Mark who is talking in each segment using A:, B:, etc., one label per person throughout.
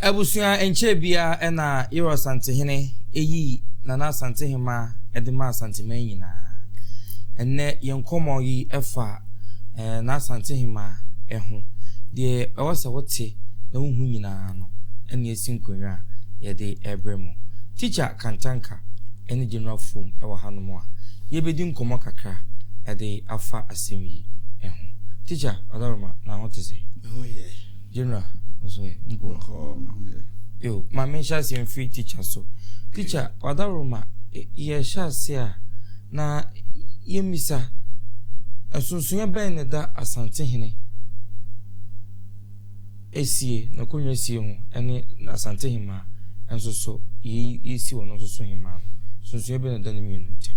A: Abusua Ɛnkyɛɛ biara na Yerɔ Asantehene yii Nana Asantehemmaa de maa Asanteman nyinaa. Ɛnnɛ yɛn nkɔmmɔ yi fa Nana Asantehemmaa ho. Deɛ ɛwɔ sɛ wote na wohu nyinaa no na ɛsi nkonnwa a yɛde rebrɛ mo. Tikya Kantanka ne General Fom wɔ hanom a yɛbɛdi nkɔmmɔ kakra de afa asɛm yi ho. Tikya Ɔdawuruma, na ho te sɛn? Me ho yɛ. General nso ɛ mpo. Yo, ma menhyɛ aseɛ mfiri teacher so. Teacher, wadaroma yɛhyɛ aseɛ a na yɛmmisa nsonsonoeɛ bɛn na ɛda Asantehene esie, n'akonnwa esie ho ɛne Asantehemaa nso so yɛsi wɔn nso so hemaa no. Nsonsonoeɛ bɛn na ɛda ne mmienu ntam?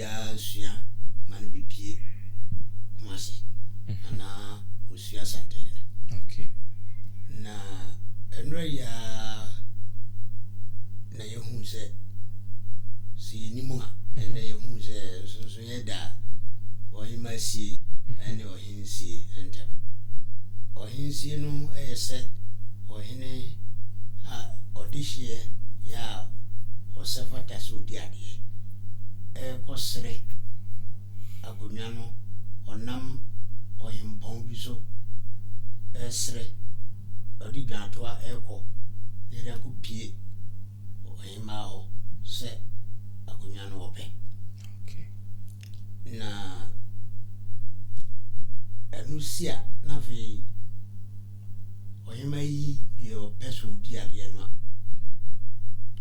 B: biara sua ma no bepue Kumasi anaa osua Asantehene. Okay.
A: Na
B: ɛnora yi ara na yɛhuu sɛ sɛ yɛnim a ɛnɛ yɛhuu sɛ nsonsonoeɛ da ɔhema sie ɛne ɔhene ahensie ntam. Ɔahensie no yɛ sɛ ɔhene a ɔdehyeɛ yɛ a ɔsɛ fata sɛ ɔdi adeɛ rekɔ sere akonnwa no ɔnam ɔhempɔn bi so resere, ɔde dwantoa rekɔ na ɛde akɔ pie ɔhemmaa hɔ sɛ akonnwa no ɔpɛ.
A: Na
B: ɛno si a, na afei ɔhemmaa yi deɛ ɔpɛ sɛ ɔdi adeɛ no a,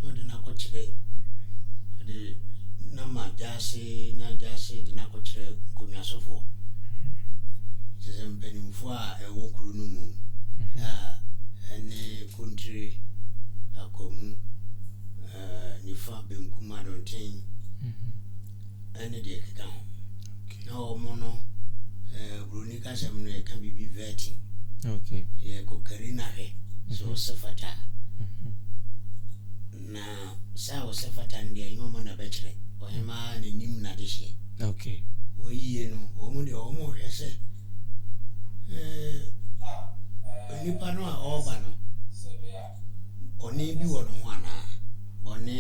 B: na ɔde no akɔkyerɛ ɔde no ama gyaase na gyaase de no akɔkyerɛ nkonnwasofoɔ kyerɛ sɛ mpanimfoɔ a ɛwɔ kuro no mu a ɛne kontire akwamu nifa benkum adɔnten ɛne deɛ ɛkeka ho na wɔn no ɛɛ buroni kasɛm no yɛka biribi vetting okay
A: yɛkɔ kari
B: na hwɛ so mhm. sɛ fata mhm. na sɛ a wɔsɛ fata no deɛ ɛnyɛ ɔmo na bɛkyerɛ ɔhemaa n'anim na de hyɛ okay
A: wɔyie no
B: wɔn deɛ wɔn hwɛ sɛ ɛɛ nipa no a ɔreba no. bɔne bi wɔ ne ho anaa? Bɔne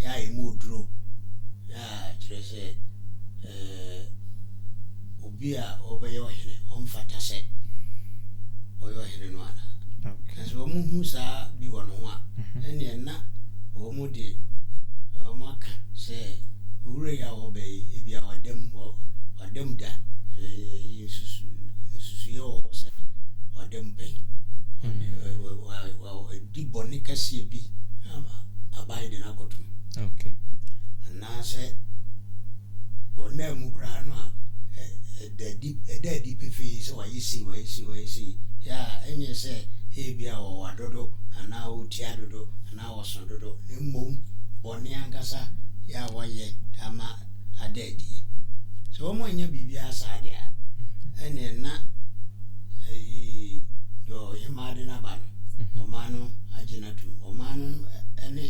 B: a ɛmu oduro a kyerɛ sɛ obi a ɔbɛyɛ ɔhene ɔmfata sɛ ɔyɛ ɔhene no anaa? Na sɛ wɔhu
A: saa
B: bi wɔ ne ho a, ɛnneɛ na wɔn Mo de, wɔaka sɛ, Owura yi a ɔreba yi, ebia wada mu, wada mu da. Ɛyi nsusuiɛ wɔ hɔ sɛ wada mu pɛn. Wadi bɔne kɛseɛ bi ama aban de no akɔtom.
A: Anaasɛ
B: ɔnaa mu koraa no a ɛda adi pefee sɛ wayɛ sei wayɛ sei wayɛ sei yɛ a ɛnyɛ sɛ ebia wɔwɔ adodo anaa wɔtia dodo anaa na wɔsõ dodo, na mbom bɔne ankasa yɛ a wɔyɛ ama ada edie. Sɛ wɔannya biribiara saa de a, ɛnneɛ na ayi deɛ ɔhemaa de no aba no, ɔman no agye no atom. Ɔman no ne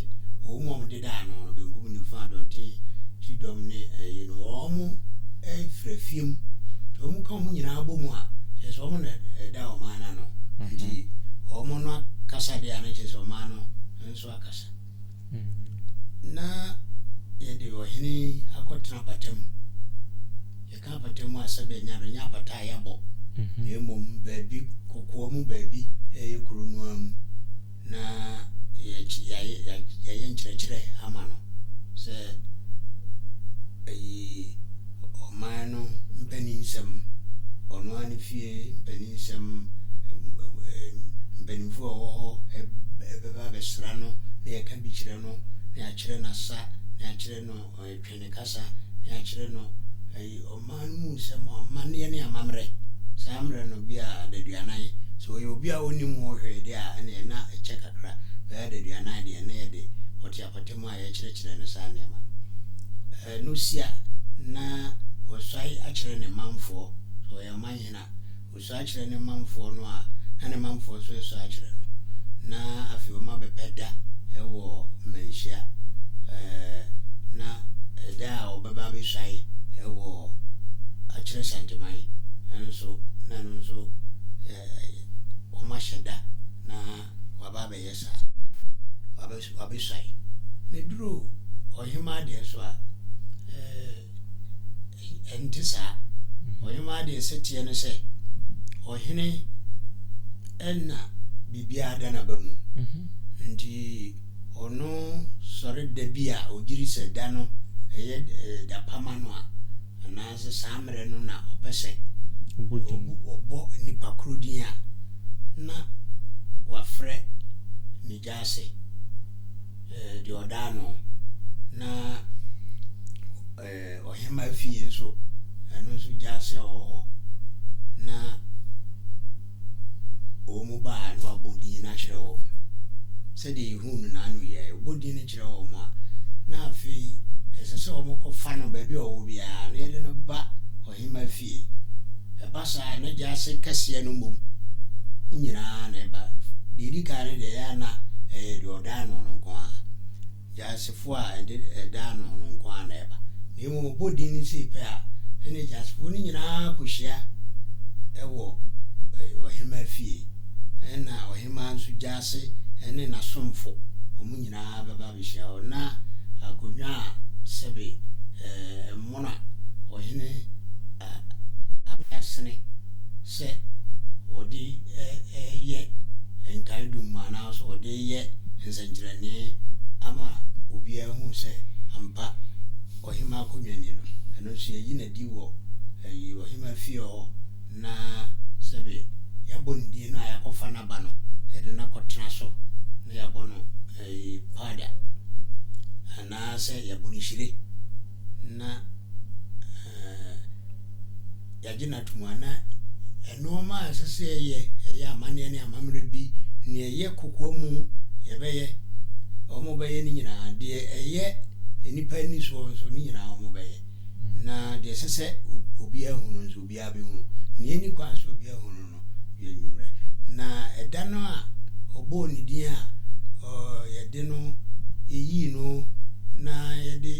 B: wɔn a wɔdeda ano no, benkum no. Nifa dɔte ti dɔm ne ɛyi no wɔn ɛfira fiem nti wɔn ka wɔn nyinaa bɔ mu a kyerɛ sɛ wɔn na ɛda ɔman no ano nti wɔn no akasa deɛ a na kyerɛ sɛ ɔman no nso akasa na yɛde ɔhene akɔtena apata mu yɛka apata mu a sɛ bɛ nya do nya apata a yɛabɔ mmom baabi kɔkɔɔ mu baabi ɛyɛ kuro noa mu na yɛayɛ nkyerɛkyerɛ ama no sɛ ɛyi ɔman no mpanin nsɛm, ɔno ara ne fie mpanin nsɛm, mpanimfoɔ a wɔwɔ hɔ bɛba abɛsra no na yɛka bi kyerɛ no na yɛakyerɛ no asa na yɛakyerɛ no. Twe ne kasa ne akyerɛ no ayi ɔman no mu nsɛm, amanneɛ ne amammerɛ. Saa mmerɛ no bi a adaduanan. Sɛ ɔyɛ obi a ɔnnim ho hwee deɛ a, ɛneɛ na ɛkyɛ kakra. Bɛyɛ adaduanan deɛ, na yɛde ɔte apata mu a yɛkyerɛkyerɛ no saa nneɛma no sia, na wasae akyerɛ ne manfoɔ, sɛ ɔyɛ ɔmanhene a. sɔ akyerɛ ne manfoɔ no a, na ne manfoɔ nso resɔ akyerɛ no, na afei wɔabɛpɛ da wɔ mmanhyia, na ɛda a wɔbɛba abɛsuae wɔ akyerɛ Santeman nso, na ɛno nso wɔahyɛ da na wɔaba abɛyɛ saa, wɔabɛsuae, na ɛduru ɔhemaa deɛ so a. ɛnte saa. Ɔhemaa deɛ sɛ teɛ no sɛ ɔhene ɛna biribiara da n'aba mu mhm. nti ɔno sɔre da bi a ɔgyiri sɛ da no ɛyɛ eh, da pama no a anaasɛ saa mmerɛ no na ɔpɛ sɛ ɔbɔ nnipa koro din a na wafrɛ ase eh, deɛ ɔdaa no na eh, ɔhema fie nso ɛno nso gya ase a ɔwɔ hɔ na wɔn mu baa na wabɔ din no akyerɛ wɔn sɛdeɛ yɛhu no n'ano yɛ ɔbɔ din no kyerɛ wɔn a na afei ɛsɛ sɛ wɔkɔfa no baabi a ɔwɔ biara na yɛde no ba ɔhema fie yiye. Ɛba saa a, na gyaase kɛseɛ no mmom nyina ara na ɛba. Deɛ ɛdi kan no deɛ, ɛyɛ a na ɛyɛ deɛ ɔda ano no nko ara, gyaasefoɔ a ɛde ɛda ano no nko ara na ɛba. Na mmom ɔbɔ din no sei pɛ a, ɛnneɛ gyasefoɔ no nyina ara kɔhyia wɔ ɔhemaa fie. Ɛnna ɔhemaa nso gyaase ne n'asomfo, wɔn nyina ara bɛba abɛhyia hɔ. Na akonnwa a sɛbe mmoa. wɔn a ɔhene a aka asene sɛ ɔde yɛ nkaedum anaasɛ ɔde yɛ nsɛnkyerɛnne ama obiara hu sɛ ampa ɔhema akonnwa ni no, ɛno nso yɛyi no adi wɔ ayi ɔhema fie hɔ na sɛbe yɛabɔ ne din no a yɛakɔfa n'aba no yɛde no akɔtena so na yɛabɔ no ayi paada. Anaasɛ yɛabu no hyire na yɛagye no atom a, na nnoɔma a ɛsɛ sɛ yɛyɛ, ɛyɛ amanneɛ ne amammerɛ bi, nea ɛyɛ kokoa mu yɛbɛyɛ, wɔbɛyɛ ne nyinaa, deɛ ɛyɛ nnipa ani soɔ nso ne nyinaa wɔbɛyɛ, na deɛ ɛsɛ sɛ obiara hu no nso obiara. obiara behu. Nea enni kwan sɛ obiara hu no no yɛ anwummerɛ. Na ɛda no a ɔbɔɔ ne din a yɛde no yii no na yɛde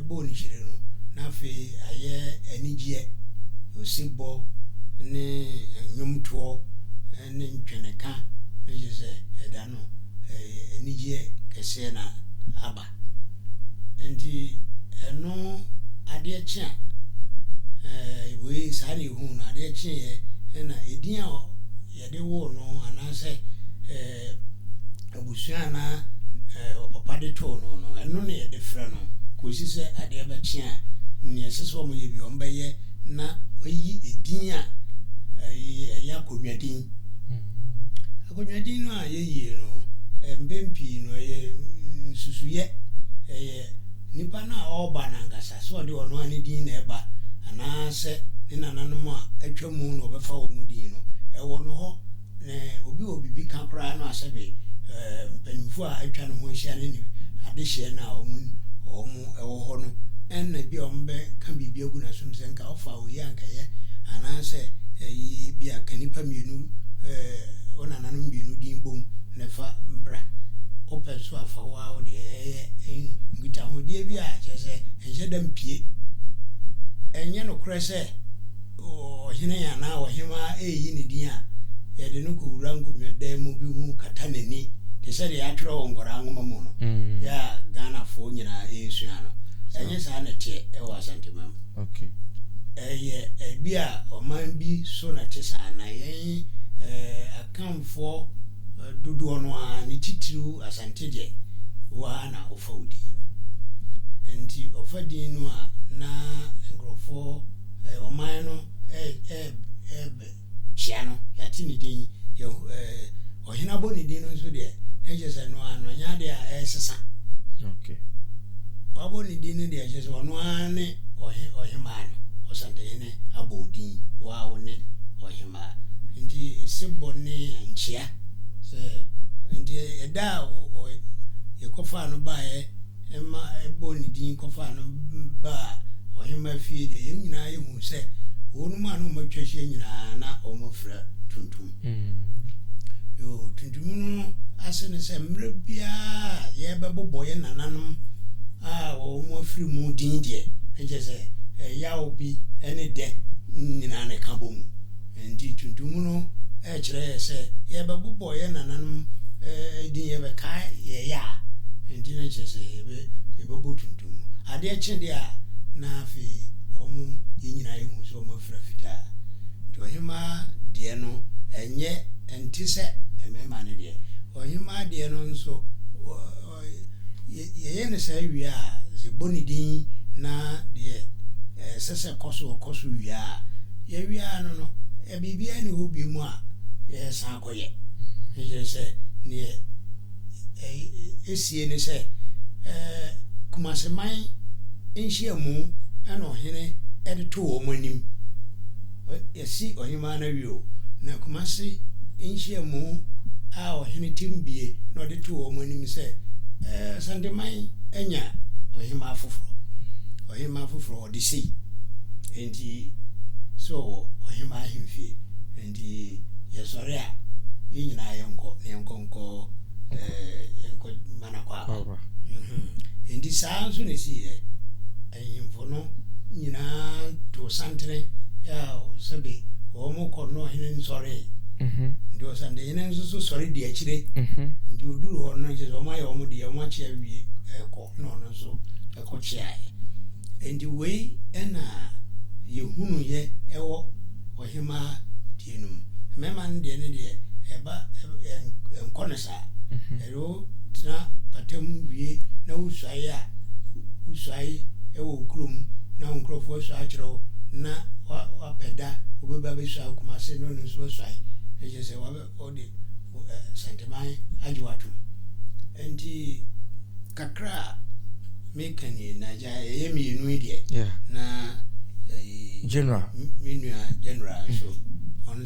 B: bɔɔ no kyire no, na afei ayɛ anigyeɛ, osebɔ ne nnwomtoɔ ne ntweneka, na kyerɛ sɛ ɛda no anigyeɛ kɛseɛ na aba. Nti ɛno adeɛ kye a, eh, wei saa na ehu no adeɛ kye yɛ ɛna edin a yɛde woo no anaasɛ eh, abusua anaa eh, ɔpapa de too no no ɛno na yɛde frɛ no kɔsi sɛ adeɛ bɛkye a nea ɛsɛ sɛ wɔyɛ bi wɔbɛyɛ na wɔayi edin a ɛyɛ akonnwa din. Akonnwa din no a yɛyie no, mpɛn pii no ɛyɛ nsusuiɛ, ɛyɛ nipa no a ɔreba no ankasa, sɛ ɔde ɔno ara ne din na ɛba anaa sɛ ne nananom a atwa mu na ɔbɛfa wɔn din no. Ɛwɔ no hɔ na obi wɔ biribi ka koraa no a sɛbe mpanimfoɔ a atwa ne ho ahyia ne ne adehyeɛ no a wɔn wɔn ɛwɔ hɔ no ɛna bi a wɔbɛka biribi agu n'asom sɛ nka Fa oyi a anka ɛyɛ anaasɛ ebia ka nnipa mmienu, wo nananom mmienu din bom na fa bra. Wopɛ nso a, fa wo ara wo deɛ. Ɛyɛ nkitahodie bi a kyerɛ sɛ ɛnhyɛ da mpie. Ɛnyɛ nokorɛ sɛ ɔhene anaa ɔhemaa reyi ne din a, yɛde no kɔwura nkonnwadan mu bi ho kata n'ani te sɛ deɛ yɛatwerɛ wɔ nkwadaa nwoma mu no, yɛ a Ghanafoɔ nyinaa resua no. Ɛnyɛ saa na ɛteɛ wɔ Asanteman mu. Ɛyɛ ebi a ɔman bi so na ɛte saa, na yɛn Akanfoɔ dodoɔ no ara, ne titiriw Asante deɛ, wo ara na wofa wo din. Nti ɔfa din no a, na nkurɔfoɔ, ɔman no Kyia no, yɛate ne din. Yɛhu eh, ɔhene abɔ ne din no nso deɛ, na kyerɛ sɛ ɛno ara no, ɛnyɛ adeɛ a ɛresesa.
A: Okay.
B: Wabɔ ne din no deɛ, kyerɛ sɛ ɔno ara ne ɔhe, ɔhemaa no. Ɔsantehene abɔ wo din, wo ara wo ne ɔhemaa. Nti, sebɔ ne nkyia. Sɛ, nti ɛda a ɔ, ɔ, yɛkɔfaa no baeɛ ma ɛbɔɔ ne din kɔfaa no baa ɔhemmaa fie deɛ, yɛn nyinaa yɛhunu sɛ wɔnom a na wɔatwa ahyia nyinaa na wɔfira tuntum. Yoo, tuntum no ase ne sɛ mmerɛ biara yɛbɛbobɔ yɛn nananom a wɔn afiri mu din deɛ, na kyerɛ sɛ ɛyaw bi ne dɛ nyinaa na ɛka bɔ mu. Enti tuntum no kyerɛ yɛn sɛ yɛbɛbobɔ yɛn nananom din, yɛbɛkae yɛn yɛ a enti na kyerɛ sɛ yɛbɛbɔ tuntum no. Adeɛ kye deɛ a na afei wɔn yɛn nyinaa yɛhu sɛ wɔn afira fitaa. Nti ɔhemaa deɛ no ɛnyɛ ɛnte sɛ mmarima no deɛ. Ɔhemaa deɛ no nso. Yɛyɛ no saa wie a, yɛbɔ ne din na deɛ ɛsɛ sɛ ɛkɔ so ɔkɔ so wie a, yɛwie ara no no, biribiara nni hɔ bio mu a yɛsan kɔyɛ. Ɛkyerɛ sɛ deɛ ɛsie ne sɛ Kumaseman nhyiamu na ɔhene de to wɔn anim. Yɛasi Ɔhemmaa no awie o. Na Kumasi nhyiamu a ɔhene Timbie na ɔde too wɔn anim sɛ Asanteman anya ɔhemmaa foforɔ, ɔhemmaa foforɔ ɔde sei nti sɛ ɔwɔ ɔhemmaa ahemfie nti yɛsɔre a yɛn nyinaa yɛnkɔ na yɛnkɔ nkɔ yɛnkɔ mana kwaaba nti saa nso na ɛsiiɛ. Ahemfo no nyinaa too santene a sɛbe wɔkɔ na ɔhene nsɔree. Nti ɔsantehene nso so sɔre di akyire. Nti ɔduru hɔ no kyerɛ sɛ wɔayɛ wɔn deɛ wɔn akyea wie kɔ na ɔno nso kɔ kyeaeɛ. Nti wei na yɛhunuiɛ ɛwɔ ɔhemaa deɛ no mu. Mmarima no deɛ ne deɛ ɛba ɛnkɔ no saa. Sɛ wo tena pata mu wie na wo suae a, wo suae wɔ wo kuro mu na wo nkorɔfoɔ asua akyerɛ wo na wa pɛ da wo bɛ ba bɛ suae Kumase na ɔno nso bɛ suae na kyerɛ sɛ wa bɛ wo de Asanteman agye wo atom nti kakra a me ka nie na gya yɛyɛ mmienu yi deɛ yeah. na eh,
A: general me nua
B: general nso mm -hmm.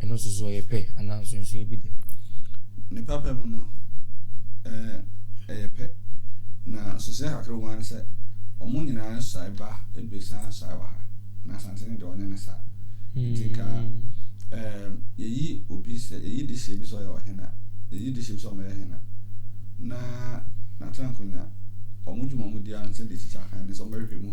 A: Ɛno nso so ɔyɛ pɛ anaa nsonsoeɛ bi da? Ne papa
C: mu no, ɛyɛ pɛ. Na nsonsoeɛ kakra wɔ mu ne sɛ, wɔn nyinaa nsae ba abiɛsa nsae wɔ ha, na Asante no deɛ ɔnyɛ ne saa. Nti ka hmm. yɛyi obi sɛ yɛyi de hyɛ bi sɛ ɔyɛ ɔhene a Wɔgye tom sɛ wɔyɛ hene na n'atena nkonwa. Wɔn dwuma a wɔdi ara ne sɛ de sika kan ne sɛ wɔbɛhwehwɛ mu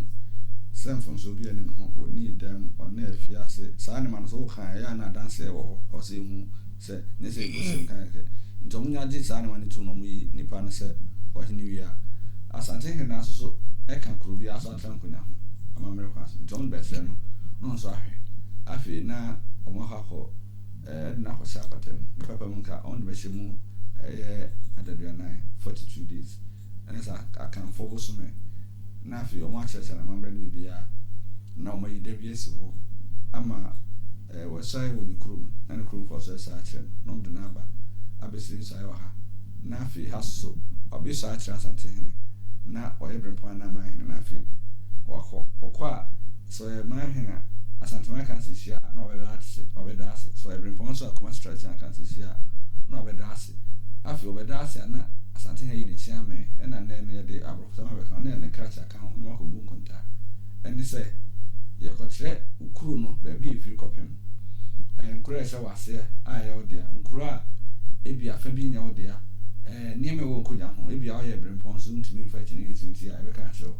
C: sɛ mfomsoɔ biara nni ne ho. Ɔnnii dɛm, ɔnnaa afiase. Saa nneɛma no, sɛ woka a, ɛyɛ a na adanseɛ wɔ hɔ. Ɛwɔ sɛ yɛhu sɛ nyɛ sɛ yɛgu asɛm kan kɛkɛ. Enti wɔnya gye saa nneɛma no tom na wɔyi nipa no sɛ ɔhene wie a, Asante hene no ara nso ka kuro biara so atena nkonwa ho amammerɛ kwan so. Enti wɔde bɛkyerɛ no, na ɔno nso ahwɛ. Afei na wɔakɔ akɔ. Ɛde no akɔhyɛ apata mu. Ne papa mu nka ɔde bɛhyɛ mu ɛyɛ adaduanan, 42 days, ɛne saa akanfoɔ bosome na afei wɔn akyerɛkyerɛ no amammerɛ no biribiara na wɔn ayi da bi asi hɔ ama ɛɛ wɔsae wɔ ne kurom na ne kuromfoɔ nso ɛsa akyerɛ no na wɔn de no aba abɛsi ne nsae wɔ ha na afei ha soso ɔbe sɔ akyerɛ asantehene na ɔyɛ brempɔn anaa amanhene na afei wakɔ ɔkɔ a Sɛ ɔyɛ Mah Heng a, Asantehene Akansi hyia a, na ɔbɛda ase, ɔbɛda ase. Sɛ ɔyɛ Brempɔn nso a, Kumasi Tradition Akansi hyia a, na ɔbɛda ase. Afei ɔbɛda ase a, na Asantehene ayi ne kyea mɛn, ɛna nnɛ no yɛde aborɔfosɛm abɛka ho, na yɛde ne krakye aka ho na wɔakɔbu nkontaa. Ɛne sɛ, yɛkɔkyerɛ kuro no baabi a ɛfiri kɔpem nkuro a ɛhyɛ w'aseɛ a ɛyɛ wo dea, nkuro a ebia fa bi nyɛ wo dea, nneɛma a ɛwɔ Nkonya ho, ebia woyɛ Brempɔn nso wontumi mfa kyiniiɛ nsi wo ti a, yɛbɛka akyerɛ wo.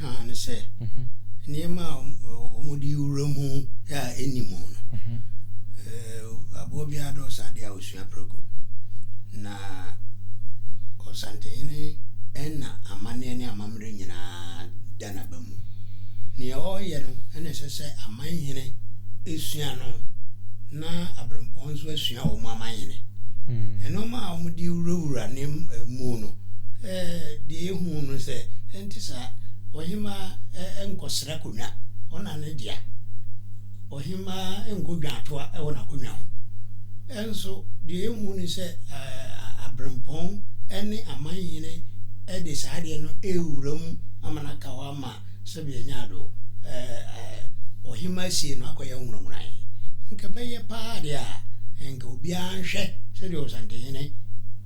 B: kaa no sɛ nneɛma a wɔde wura mu a ɛnni mu no aboa biara dɛ ɔsa adeɛ a ɔsua prɛko na ɔsantehene ɛna amanneɛ ne amammerɛ nyinaa da n'aba mu nea ɔreyɛ no ɛna ɛsɛ sɛ amanhene ɛsua no na aberempɔn nso asua wɔn amanhene ɛnɔma a wɔde wurawura ne mu no deɛ ehu no sɛ ɛnte saa ɔhemaa nkɔsra konwa ɔna ne dea ɔhemaa nkɔ dwaatoa wɔ n'akonwa ho ɛnso deɛ ehu no sɛ aberempɔn ne amanhene de saa adeɛ no rewura mu ama no aka hɔ ama Sɛdeɛ ɛnyaa do ɛɛ ɔhemmaa sie no akɔyɛ nwononwonae. Nka ɛbɛyɛ paa deɛ a, nka obiara nhwɛ sɛdeɛ Ɔsantehene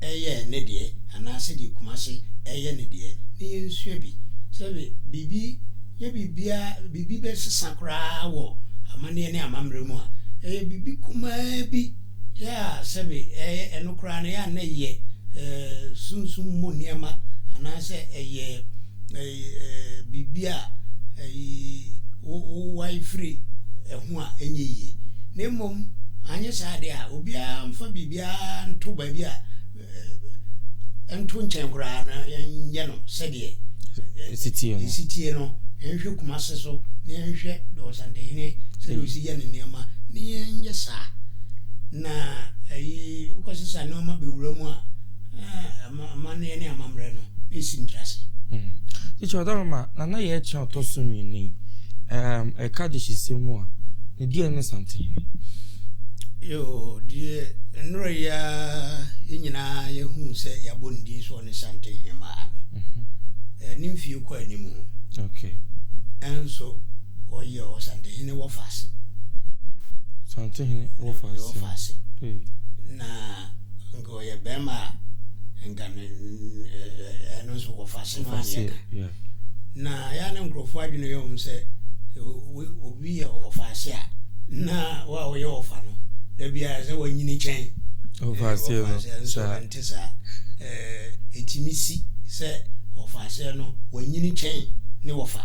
B: yɛ ne deɛ anaa sɛdeɛ Kumasi yɛ ne deɛ na yɛnsua bi. Sɛbe biribi nyɛ biribiara, biribi bɛsesa koraa wɔ amanneɛ ne amammerɛ mu a, ɛyɛ biribi kumaa bi. Yɛ a sɛbe ɛyɛ ɛno koraa no, yɛ a na ɛyɛ sunsum mu nneɛma anaasɛ ɛyɛ biribi a wowae firi ɛho a ɛnyɛ yie. Na mmom anyɛ saa deɛ a, obiara mfa biribiara nto baabi a ɛnto nkyɛn koraa na yɛnyɛ no sɛdeɛ ɛsitie no yɛnhwɛ kuma se so na yɛnhwɛ dɔɔsantehene sɛdeɛ ɔsi yɛ ne nneɛma na yɛnyɛ saa na ɛyi wokɔ sesa nneɛma bɛwura mu a amanneɛ ne amammerɛ no ɛsi ntrase kyekyeɛ
A: ɔdɔrɔ ma nana yɛ kyerɛ ɔtɔ so mmienu yi ɛka de hyesɛ mu a Deɛ ne Santehene.
B: Yoo, deɛ nnora yi ara yɛn nyinaa yɛhuu sɛ yɛabɔ ne din so ɔne Santehemaa no. Mhm. Ne mfie kɔ anim. Okay.
A: Ɛnso
B: ɔyɛ Ɔsantehene wɔfa ase.
A: Santehene wɔfa ase. Wɔfa ase. Na
B: nka ɔyɛ bɛrima a nka ne ɛno nso wɔfa ase no aneɛ ka. Na ɛyɛ a na nkurɔfoɔ adwene yɛ wɔn sɛ obi yɛ ɔfaaseɛ a, na wo a woyɛ ɔfa no, da biara sɛ wanyini kyɛn ɔfaaseɛ
A: no. Nso ɛnte
B: saa. Ɛtumi si sɛ ɔfaaseɛ no wanyini kyɛn ne wɔfa.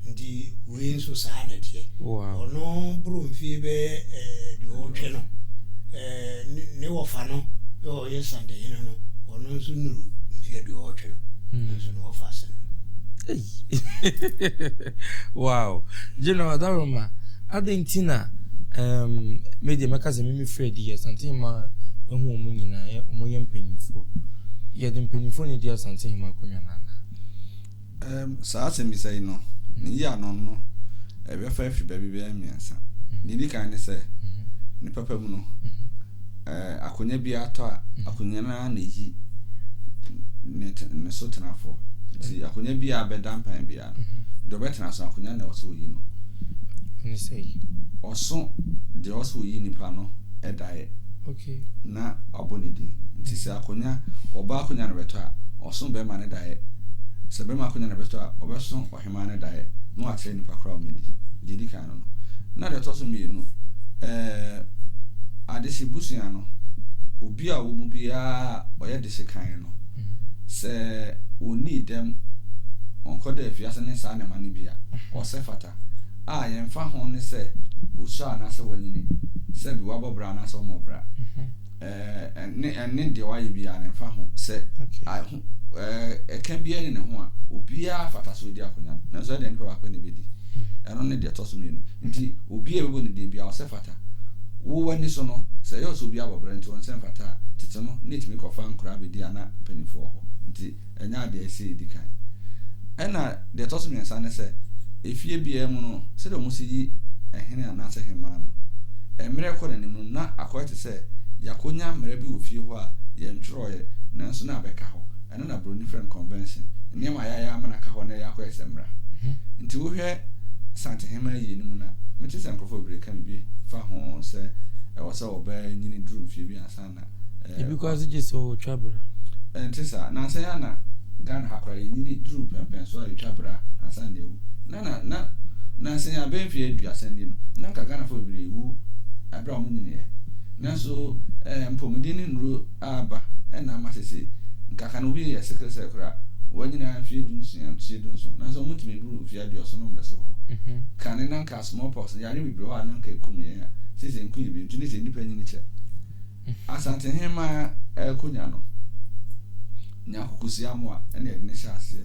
B: Nti wei nso saa na ɛteɛ. Ɔno boro mfie bɛyɛ aduɔwɔtwe no, ne wɔfa no ɔyɛ Santehene no, ɔno nso nnuru mfe aduɔwɔtwe no, hmm.
A: nanso na ɔfa ase no. wow general adaroma adịn nti na media mɛka sɛ meme frɛ di yɛ santehema ɛho ɔmo nyinaa ɔmo yɛ mpanyimfoɔ yɛde mpanyimfoɔ ne di asantehema akonnwa no anaa Saa asɛmmisa
C: yi no, ne yɛ ano no, ɛbɛfa afi baabi bɛyɛ mmiɛnsa. Deɛ ɛdi kan ne sɛ, ne papa mu no, akonnwa bi atɔ a, akonnwa no ara na ɛyi ne so tenafoɔ. Nti akonnwa bi a bɛda mpan biara no, deɛ ɔbɛtena so akonnwa na ɛwɔ sɛ ɔyi no.
A: Ɔso
C: deɛ ɔwɔ sɛ ɔyi nipa no daeɛ.
A: na wabɔ
C: ne din. Nti sɛ akonya, ɔbaa akonya na ɔbɛtɔ a, ɔso bɛrima no daeɛ. Sɛ bɛrima akonya na ɔbɛtɔ a, ɔbɛso ɔhemaa no daeɛ na wakyerɛ nnipa korɔ a wɔadi. Deɛ ɛdi kan no no. Na deɛ ɛtɔ so mmienu, ɛɛ, adehye busua no, obi a ɔwɔ mu biara a ɔyɛ dehye kan no, sɛ ɔnnii dɛm, ɔnkɔda afiase ne saa nneɛma no bi a, ɔsɛ fata. a yɛmfa ho ne sɛ osua anaasɛ wanyini, sɛ bi wabɔ bra anaasɛ ɔmmɔ bra. Ɛɛ, ɛne, ɛne deɛ wayɛ biara no mfa ho. Sɛ ɛho, ɛɛ, ɛka biara ne ne ho a, obiara fata sɛ odi akonya no. Nanso ɛdeɛ nipa baako na ebedi. Ɛno ne deɛ ɛtɔ so mmienu. Nti, obi a ɛbɛbɔ ne deɛ biara ɔsɛ fata. Wo w'ani so no, sɛ ɛyɛ sɛ obi abɔ bra nti wɔn sɛ mfata a, tete no na etumi kɔfa nkoraa bedi ana mpanyinfoɔ hɔ. Nti. ɛnyɛ adeɛ a ɛsɛ sɛ yɛdi kan. Ɛna deɛ ɛtɔ so mmiɛnsa ne sɛ, efie biara mu no, sɛdeɛ wɔsi yi hene anaasɛ hemmaa no, mmerɛ rekɔ n'anim no, na akɔyɛ te sɛ yɛakɔnya mmara bi wɔ fie hɔ a yɛntwerɛeɛ, nanso na abɛka hɔ. Ɛno na buroni frɛ no convention. Nneɛma a yɛayɛ ama no aka hɔ na ɛreyɛ akɔyɛ sɛ mmara. Nti wohwɛ Santehemaa yie no mu no a, mete sɛ nkurɔfoɔ bebree reka biribi fa ho sɛ ɛwɔ sɛ ɔbaa nyini duru mfeɛ bi ansa Ebi koraa nso gye
A: sɛ ɔtwa bra. Ɛnte saa.
C: Nansa yi ara na Ghana ha koraa yɛnyini duruu pɛmpɛn so a yɛtwa bra ansa na yɛawu. Na na na nansa yi ara bɛyɛ mfeɛ aduasa ni no, na anka Ghanafoɔ bebree rewu berɛ a wɔnyiniiɛ. Nanso mpɔmuden ne nnuro aba na ama seesei nka ka no obi yɛ sickle cell koraa a, wanyini ara mfeɛ du nsia, mfeɛ du nson. Nanso wɔntumi duru mfeɛ aduɔson na wɔda so wɔ hɔ. Kane na anka. a smallpox, yare bebree wɔ hɔ a na anka ekum yɛn a seesei nko yɛ bi nti ne sɛ nnipa nyini kyɛ. Asantehemmaa Akonya no nyaa kukusia mmoa na yɛde no hyɛɛ aseɛ.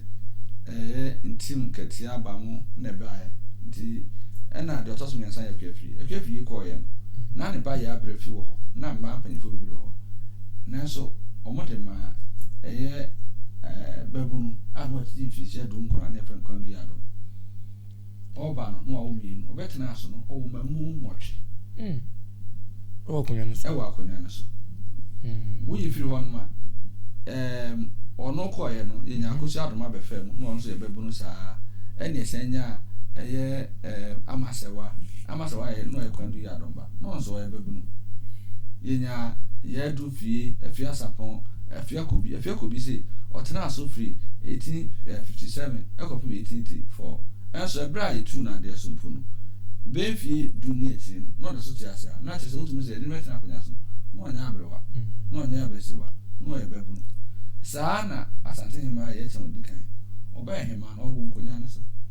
C: Ɛyɛ ntim nkɛteɛ aba mu na ɛbaeɛ nti ɛna deɛ ɔtɔ so mmiɛnsa yɛ Akuapii. Akuapii yi kɔeɛ no na ne ba yɛ abrɛ fi wɔ hɔ na mmaa mpanyinfoɔ bebree wɔ hɔ nanso wɔn de maa ɛyɛ ɛɛ babunu a na wɔatete mfirihyia du nkron a na yɛfrɛ no Kwadu Yado. ɔɔba no na wawo mmienu, ɔbɛtenaa so no, ɔwo mma mu nwɔtwe.
A: Ɛwɔ akonnwa no so. Ɛwɔ akonnwa no so.
C: Woyi firi hɔ nom a, ɛɛm, ɔno kɔɔeɛ no, yɛnya akosua adom abɛfaa mu, na ɔno nso yɛbɛbu no saa. Ɛne ɛsan nya ɛyɛ ɛɛm, amasɛwa. Amasɛwa yɛ, na ɔyɛ kwan du yɛ adom ba. na ɔno nso ɔyɛ babunu. Yɛnya Yaa du fie, Afia Sapɔn, Afia Kobi. Afia Kobi se ɔtenaa so firi 1857 kɔpem 1884. Nso ɛberɛ a yɛtuu no adeɛ so mpo no, bɛyɛ mfie du ne akyire no, na ɔda so te ase a, na kyerɛ sɛ wotumi sɛ yɛde no bɛtena akonnwa so. Na ɔnyɛ aberewa, na ɔnyɛ abasiriwa, na ɔyɛ babunu. Saa ara na Asante Hemaa Yɛkyɛn Odikan, ɔbɛyɛ Hemaa na ɔwɔ nkonnwa no so.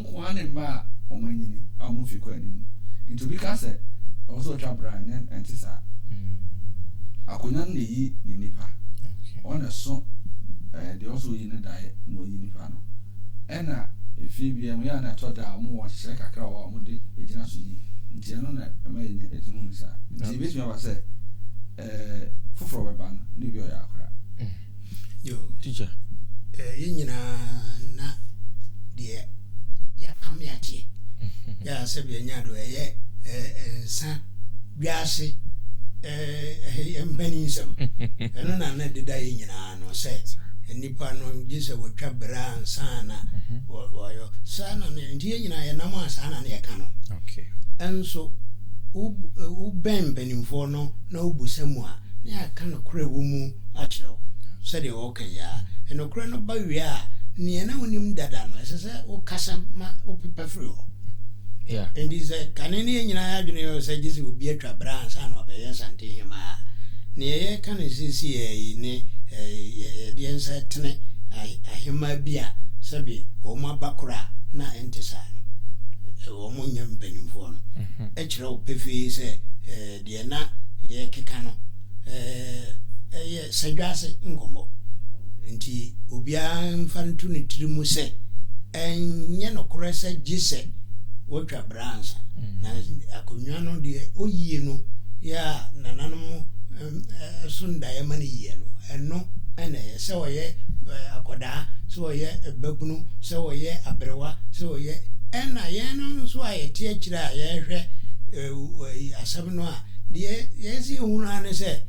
C: nkoaa ne mma a wɔanyini a wɔn mfe kɔ anim. Enti obi ka sɛ ɛwɔ sɛ ɔtwa bra a, ɛnyɛ, ɛnte saa. Akonnwa no na eyi ne nipa. Ɔno na ɛso ɛɛ, deɛ ɔwɔ sɛ oyi ne daeɛ na wayi nipa no. Ɛna efie biara mu, ɛyɛ a na ɛtɔ da a, wɔwɔ nhyehyɛe kakra wɔ hɔ a wɔde gyina so yi. Enti ɛno na ɛma yɛnya, yɛtumi hu no saa. Enti ebetumi aba sɛ. Eh, foforɔ bɛba no ne bi ɔyɛ akora. Mm. Yo.
B: Teacher.
A: Eh, yɛn
B: nyinaa na deɛ yɛapam yɛakyeɛ. Yɛ a sɛ bia nya do ɛyɛ eh, nsa wiase eh, mpani nsɛm. Ɛno na na deda yɛn nyinaa no sɛ nnipa no gye sɛ wɔtwa berɛ ansa na mhm. wɔyɔ saa na ne nti yɛn nyinaa yɛnam a saa na ne yɛka no ɛnso wobɛn mpanimfoɔ no no na wobisa mu a, na yɛaka nokorɛ a ɛwɔ mu akyerɛ wo, sɛdeɛ wɔka yi ara, nokorɛ no ba wie a, deɛ na wonim dada no, ɛsɛ sɛ wokasa ma wopepa firi hɔ. Enti
A: sɛ kane
B: no yɛn nyinaa adwene yɛ sɛ gye sɛ obi atwa berɛ ansa na wabɛyɛ Asantehema a, deɛ yɛreka no seesei ara yi ne yɛde yɛn nsa tene ahema bi a sɛbe wɔn aba korɔ a na ɛnte saa no, wɔn nyɛ mpanimfoɔ no. kyerɛ wo pefee sɛ deɛ na yɛrekeka no yɛ sadwaase nkɔmmɔ. Enti obiara mfa nto ne tiri mu sɛ ɛnyɛ nokorɛ sɛ gye sɛ wɔtwa bra ansa. Na akonnwa no deɛ ɔyie no yɛ a nananom so ndaeɛ ma no yie no, ɛno na ɛyɛ. Sɛ ɔyɛ akwadaa, sɛ ɔyɛ babunu, sɛ ɔyɛ aberewa, sɛ ɔyɛ. Ɛna yɛn no nso a yɛte akyire a yɛrehwɛ asɛm no a, deɛ yɛn sɛ yɛhunu ara ne sɛ,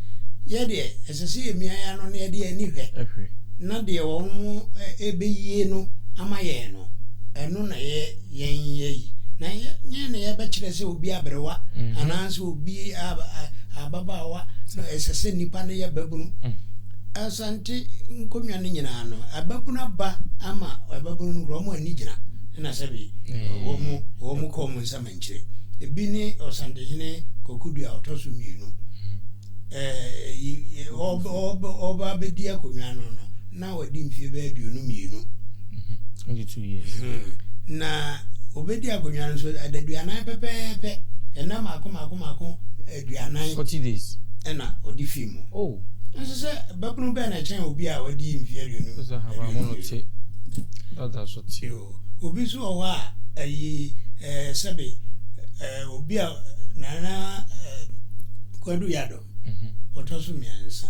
B: yɛ deɛ ɛsɛ sɛ yɛmia yɛn ano na yɛde yɛn ani hwɛ na deɛ wɔn ɛbɛyie no ama yɛn no, ɛno na yɛn yɛyi. Na yɛn na yɛbɛkyerɛ sɛ obi aberewa anaa sɛ. Obi a ababaawa no, ɛsɛ sɛ nipa no yɛ babunu. Asante nkonnwa no nyinaa no, ababunu aba ama ababunu no kura wɔn ani gyina na sɛbi wɔn wɔn kɔ wɔn nsam nkyerɛ. Ebi ne Ɔsantehene Kokudu a ɔtɔ so mmienu. Ɛɛ ɔba ɔba ɔba abɛdi akonnwa no no. Na wadi mfeɛ bɛyɛ aduonu mmienu. Twenty two years. Na obedi akonnwa no so adaduanan pɛpɛɛpɛ, ɛnna mmaako mmaako mmaako aduanan. Forty days.
A: Ɛna ɔde fii
B: mu. Oh. Nso sɛ babunu bɛn na ɛkyɛn obi a wadi mfeɛ aduonu. Sɛ ahabanmono te,
A: dada so te. Obi nso wɔ hɔ
B: a ayi ɛɛ sɛbe ɛɛ obi a nana ɛɛ kwadu yadɔ. ɔtɔ so mmiɛnsa,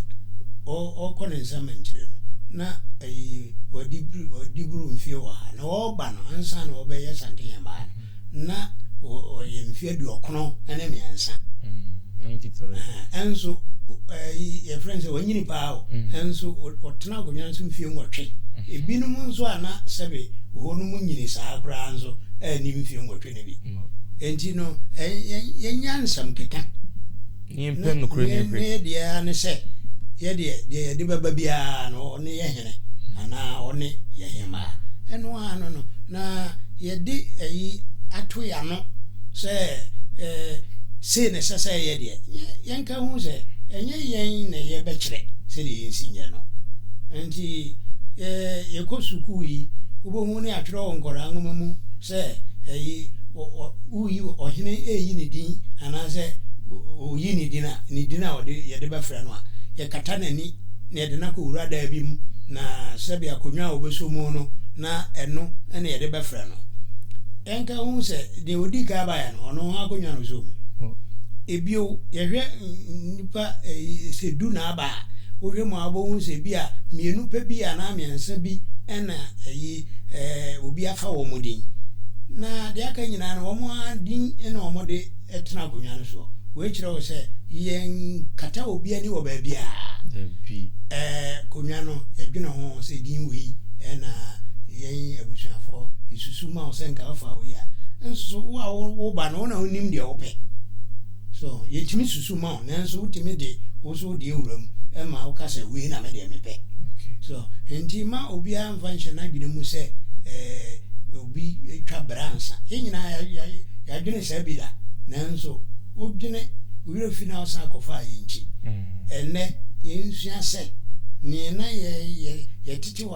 B: ɔkɔ ne nsa mɛnkyire no na ɛyi wadibro mfie wɔ ha na ɔba no ansa na ɔbɛyɛ Asante Hemmaa no na ɔyɛ mfie aduɔkono ne mmiɛnsa
A: ɛnso
B: yɛfrɛ no sɛ wanyini paa o ɛnso ɔtena akonnwa nso mfie nwɔtwe ebinom nso a na sɛbe hɔ no mu nyini saa koraa nso ɛni mfie nwɔtwe no bi Enti no, yɛnyɛ nsɛm keka na yɛmpɛ
A: nokorɛ no mfiri. Ne yɛ deɛ ara ne sɛ,
B: yɛ deɛ, deɛ yɛde bɛba biara no, ɔne yɛ hene, anaa ɔne yɛ hemaa. Ɛno ara no no, na yɛde ɛyi ato yɛ ano sɛ, eh, sei na ɛsɛ sɛ yɛyɛ deɛ. Yɛnka nhu sɛ, ɛnyɛ yɛn na yɛbɛkyerɛ sɛdeɛ yɛnsi nyɛ no. Enti, eh, yɛkɔ sukuu yi, wobɛhu ne atwerɛ wɔ nkwadaa nwoma mu sɛ. sɛ ɛye ɔ woyi ɔhene reyi ne din anaasɛ ɔyi ne din a, ne din a ɔde yɛde bɛfrɛ no a, yɛkata n'ani na yɛde no akɔwura dan bi mu, na sɛbe akonnwa a ɔbɛsɔ mu no, na ɛno na yɛde bɛfrɛ no. Ɛnka ho sɛ deɛ ɔdii kan baeɛ no, ɔno ho akonnwa na ɔsɔɔ mu. Ebio, yɛhwɛ nnipa sɛ du na aba a, wohwɛ mu a wobɛhu sɛ bi a mmienu pɛ bi anaa mmiɛnsa bi na ɛye eh, obi afa wɔn din. Na deɛ aka nyinaa no, wɔn ara din na wɔde tena akonnwa no soɔ. Wei kyerɛ wo sɛ yɛnkata obi ani wɔ baabiara. Dabi. Eh, konnwa no, yɛdwene ho sɛ din wei na yɛn abusuafoɔ yɛsusu ma wo sɛ nka wɔfa wo yi a. Nso wo a woba no, wo na wonim deɛ wopɛ. So yɛtumi susu ma wo nanso wotumi de wo so deɛ wura mu ma woka sɛ wei na me deɛ mepɛ. So nti mma obiara mfa nhyɛ n'adwene mu sɛ eh, obi twa bra nsa. Yɛn nyinaa yɛadwene saa bi da nanso wodwene wo werɛ fi na wosan kɔfaa yɛn nkyi. Ɛnnɛ yɛnsua sɛ neɛ na yɛtete wɔ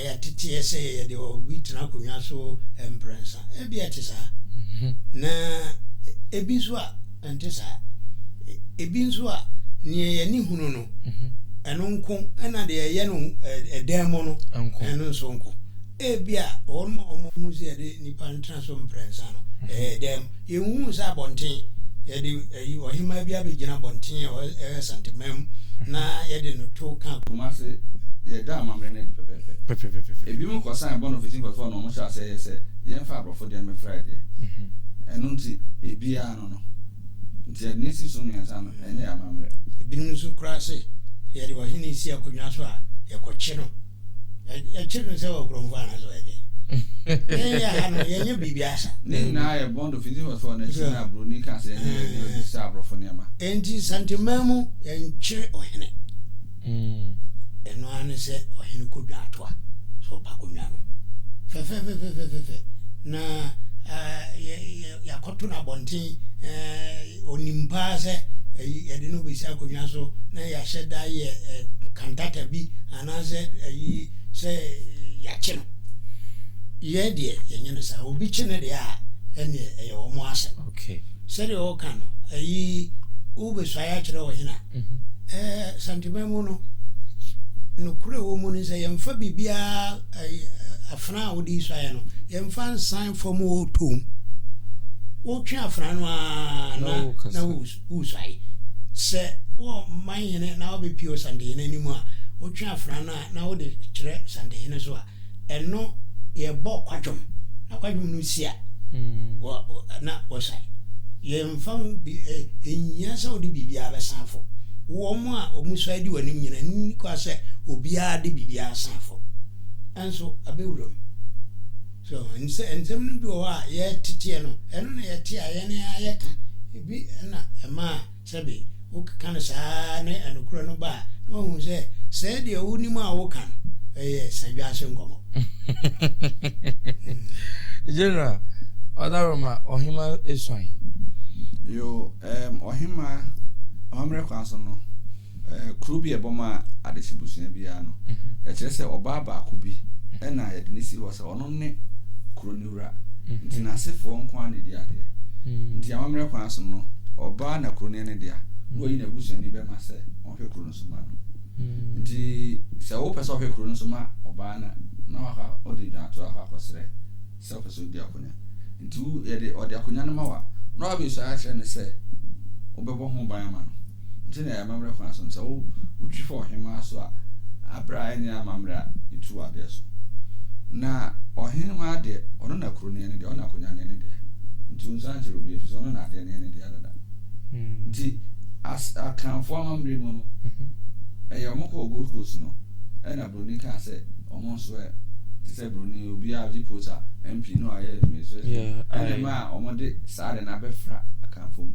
B: Ɛyɛ teteɛ sɛ yɛde obi tena akonnwa so mprɛnsa. Ebia ɛte saa, na ebi nso a, ɛnte saa. Ebi nso a, nea yɛn ani hunu no, ɛno nko, ɛnna deɛ ɛyɛ no dan mu no, ɛno nso nko. Ebia wɔn a wɔhunu sɛ yɛde nnipa tena so mprɛnsa no, ɛyɛ dan mu. Yɛhuu sɛ abɔnten, yɛde ɛyi, ɔhemaa bi abɛgyina abɔnten a ɛwɔ Asanteman mu na yɛde no to ka. Kumase,
C: yɛda amammerɛ no adi pɛpɛɛpɛ. Pɛpɛpɛpɛpɛ. Ebinom kɔsan bɔ no fiti mfɛfo na wɔhyɛɛ aseɛ yɛɛ sɛ yɛmfa aborɔfo deɛ no mmɛfra yɛn deɛ. Ɛno nti, ebiara ano no. Nti yɛde no asi so mmiɛnsa no, ɛnyɛ yɛn amammerɛ. Ebinom nso koraa
B: se yɛde ɔhene si akonnwa so a, yɛkɔkye no. ɛkyerɛ no sɛ wɔ kurɔmfo anaasɛ ɔyɛ dɛn yɛn yɛ ha no yɛnyɛ biribi asa ne nyinaa yɛ bond of
C: indigenous fɔ na ɛkyerɛ na buroni ka sɛ ɛne yɛde bɛbisa aborɔfo nneɛma enti santeman
B: mu yɛnkyere ɔhene ɛno ara ne sɛ ɔhene kɔdwa atoa sɛ ɔba kɔnwa no fɛfɛfɛfɛfɛfɛ na yɛakɔto no abɔnten ɔnim paa sɛ yɛde no bɛsi akonnwa so na yɛahyɛ da yɛ kantata bi anaasɛ ayi sɛ yɛakye no. Yɛn deɛ yɛnyɛ no saa. Obi kye ne deɛ a, ɛneɛ ɛyɛ wɔn asɛm. Sɛdeɛ ɔreka no, ayi wobɛsuae akyerɛ wɔ hena? Mm-hmm. Santema mu no, nokorɛ wɔ mu no sɛ yɛmfa biribiara afena a wode suaeɛ no, yɛmfa nsan fam wɔ tom. Wotwe afena no a na na wosu. Husai sɛ, Kɔ man hene na wobɛpue Sandhene anim a, wotwe afena no a na wode kyerɛ Sandhene so a, ɛno yɛbɔ kwadwom, na kwadwom no si a, wɔ, na wɔsae. Yɛmfa ho bi, ɛ, ɛnhia sɛ wode biribiara bɛsan afo. Wɔn a wɔsae di w'anim nyinaa, nni kwa sɛ obiara de biribiara asan afo. Ɛnso, ɛbɛ wuram. So, nsɛ, nsɛm no bi wɔ hɔ a, yɛteteɛ no, ɛno na yɛte a yɛn ara yɛka. Bi na ɛmaa sɛbe wokeka no saa ara ne ɛnokorɛ no ba a, na wahu sɛ sɛɛ deɛ wonim a woka no ɛyɛ sadwaase nkɔmɔ.
A: General, ɔdaroma ɔhema esuan. Yo,
C: um, ɔhema, amammerɛ kwan so no. kuro bi a ɛbɔ ma adehye busua biara no, mhm. ɛkyerɛ sɛ ɔbaa baako bi mhm. ɛna yɛde ne si hɔ sɛ ɔno ne kuro no wura mhm. nti n'asefoɔ nko ara na ɛdi adeɛ nti amammerɛ kwan so no ɔbaa na kuro no ne dea na ɔyi n'abusuani bɛma sɛ ɔhwɛ kuro no so ma no nti sɛ wopɛ sɛ ɔhwɛ kuro no so ma ɔbaa no na wafa ɔde dwantoa akɔ akɔsrɛ sɛ ɔpɛ sɛ ɔdi akonya nti yɛde ɔde akonya no ma wa na wabɛsua akyerɛ no sɛ wobɛbɔ ho ban ama no Nti na ɛyɛ amammerɛ kwan so no sɛ wo wotwi fa ɔhemaa so a aberɛ a ɛnyɛ amammerɛ a ɛtu wo adeɛ so. Na ɔhemaa deɛ ɔno na kuro no yɛ ne dea, ɔno na akonwa no yɛ ne dea. Nti wo nsa nkyerɛ obiara ɛfiri sɛ ɔno na adeɛ no yɛ ne dea dada. Nti as Akanfoɔ amammerɛ mu no mhm. ɛyɛ wɔn kɔɔ Gold Coast no ɛna Buroni kaa sɛ wɔn nso ɛ te sɛ Buroni obiara gye post a MP no ayɛ administration ɛna ma a wɔn de saa de no abɛfra Akanfoɔ mu.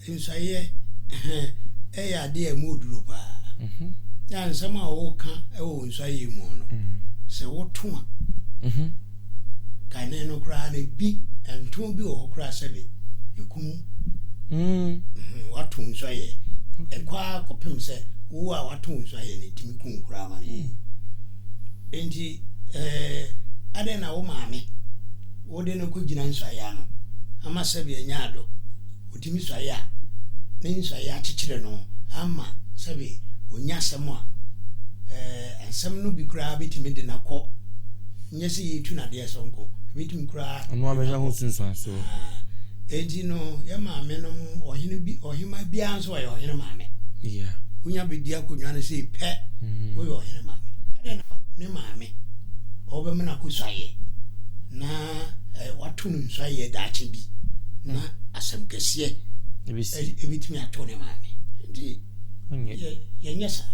B: Nsaeɛ hɛn yɛ adeɛ a ɛmu duro paa. Yɛ a nsɛm a woka wɔ wo nsaeɛ mu no, sɛ woto a, kane no koraa no ebi nto bi wɔ hɔ koraa sɛde ɛkum woato nsaeɛ. Ɛkɔ ara kɔpem sɛ wo a woato wo nsaeɛ no ɛtumi ku wo koraa ma no yie. Enti adɛn na wo maame wode no kogyina nsuaeɛ ano ama sɛbi anya adɔ, ɔtumi suaeɛ a, ne nsuaeɛ akyekyere no ama sɛbi ɔnya asɛm a, ɛɛ, nsɛm no bi koraa bɛtumi de no akɔ, nyɛ sɛ yɛtu no adeɛ so nko, ɛbɛtumi koraa de no akɔ. Haa,
A: enti
B: no, yɛn maame nom, ɔhene bi, ɔhema biara nso, ɔyɛ ɔhene maame wonya
A: bɛdi akonnwa
B: no sei pɛ mm-hmm. woyɛ ɔhene maame ɛdɛ na ne maame ɔbɛma no akɔsuayɛ na eh, wato no nsuayɛ daakye bi na mm. asɛm kɛseɛ ɛbɛtumi eh, ato ne maame nti yɛnyɛ saa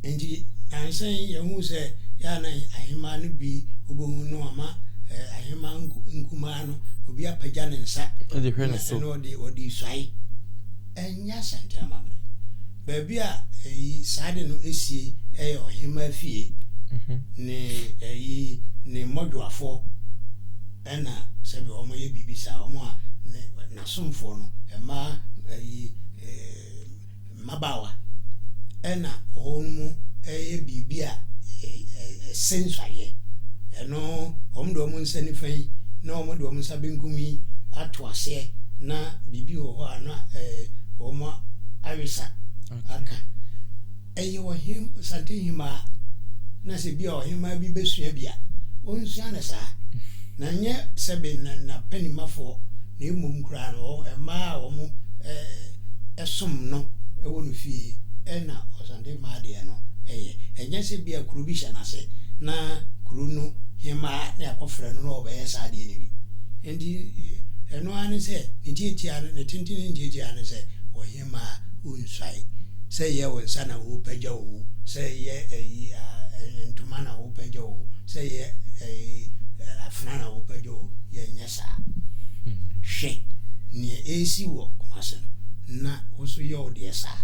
B: nti nansɛn yɛhu sɛ yɛana ahema no bi wobɛhu no ama eh, ahema nkumaa nyinaa no, obi apagya ne nsa de hwɛ ne so, ɛna
A: ɔde ɔde suae.
B: Ɛnyɛ asɛntena amammerɛ. Baabi a ɛyi saa de no esie ɛyɛ ɔhemaa fie mhm. ne ɛyi ne mmɔdwoafoɔ ɛna sɛbi wɔn yɛ biribi saa wɔn a n'asomfoɔ no ɛmaa ɛyi ɛɛ. mmabaawa na wɔn yɛ biribi a ɛse nsɔayɛ ɛno wɔn de wɔn nsa nifa yi na wɔn de wɔn nsa benkum yi ato aseɛ na biribi wɔ hɔ a na wɔn awesa aka ɛyɛ ɔhen sante hemaa na sɛ bi a ɔhemaa bi bɛsua bi a ɔnsua no saa na nyɛ sɛbe na panimafoɔ na mmom koraa no ɛmaa wɔn som no wɔ no fie na ɔsan de ma adeɛ no yɛ. Ɛnyɛ sɛ bia kuro bi hyɛ no ase na kuro no hemaa na yɛakɔfrɛ no na ɔbɛyɛ saa adeɛ no bi. Nti ɛno ara ne sɛ ne tiatia no, ne tenten ne tiatia ne sɛ ɔhemaa wonsuae. Sɛ yɛ wo nsa na wopagya oo, sɛ yɛ ayi ntoma na wopagya oo, sɛ yɛ afena na wopagya oo, yɛnyɛ saa. Hwɛ nea ɛresi wɔ Kumasi no, na wo nso yɛ wo deɛ saa.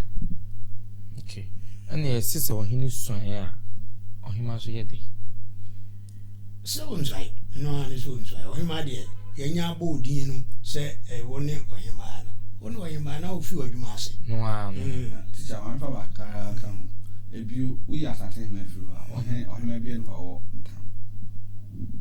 B: Okay.
A: Ɛna ɛsi sɛ ɔhene suaeɛ a ɔhema nso yɛ dɛ.
B: Sɛ ɔnsuae, ɛno ara ne sɛ ɔnsuae. Ɔhema deɛ yɛnyɛ abɔ odin no sɛ ɛwɔ ne ɔhemaa no. Wo ne ɔhemaa na wofi w'adwuma ase. No ara no. Mm.
A: Tikya wɔmfa
C: bakara ka ho. Ebio woyɛ asate hema firi hɔ a, ɔhene ɔhema biara ni hɔ a ɔwɔ ntam.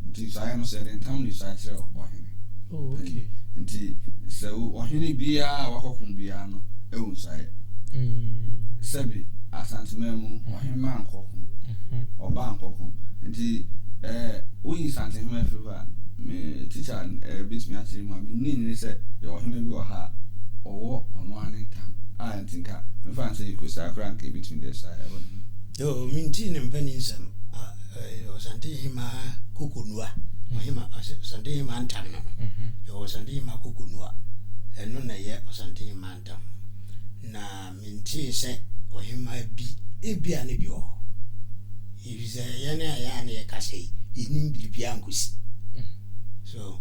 C: Nti saa no sɛ yɛde
A: ntam de
C: saa kyerɛ ɔhene. Oh, okay. Nti sɛ ɔhene biara a wakɔko biara no ɛwɔ nsaeɛ. Mm. Sɛbi asanteman mu mm-hmm. ɔhema nkɔko, mm-hmm. ɔba nkɔko. Nti ɛɛ eh, woyi santehema firi hɔ a me tikya ɛɛ eh, betumi akyerɛ mu a me nni nyini sɛ yɛ ɔhema bi wɔ ha a ɔwɔ ɔno ara ne ntam a nti nka mefa nsɛ yɛ kosi akora nka ebetumi de saa ɛwɔ ne mu. Oh, mentee
B: ne mpa ni nsɛm. Ɛyɛ Ɔsantehemaa Kokonua, ɔhema, Ɔsantehemaa ntam no no. Mhm. Yɛwɔ Ɔsantehemaa Kokonua, ɛno na ɛyɛ Ɔsantehemaa ntam. Na mentee sɛ ɔhemaa bi, ebia ne bi wɔ hɔ. Efisɛ yɛn a yɛa na yɛkasa yi, yɛnnim biribiara nkosi. Mm. So.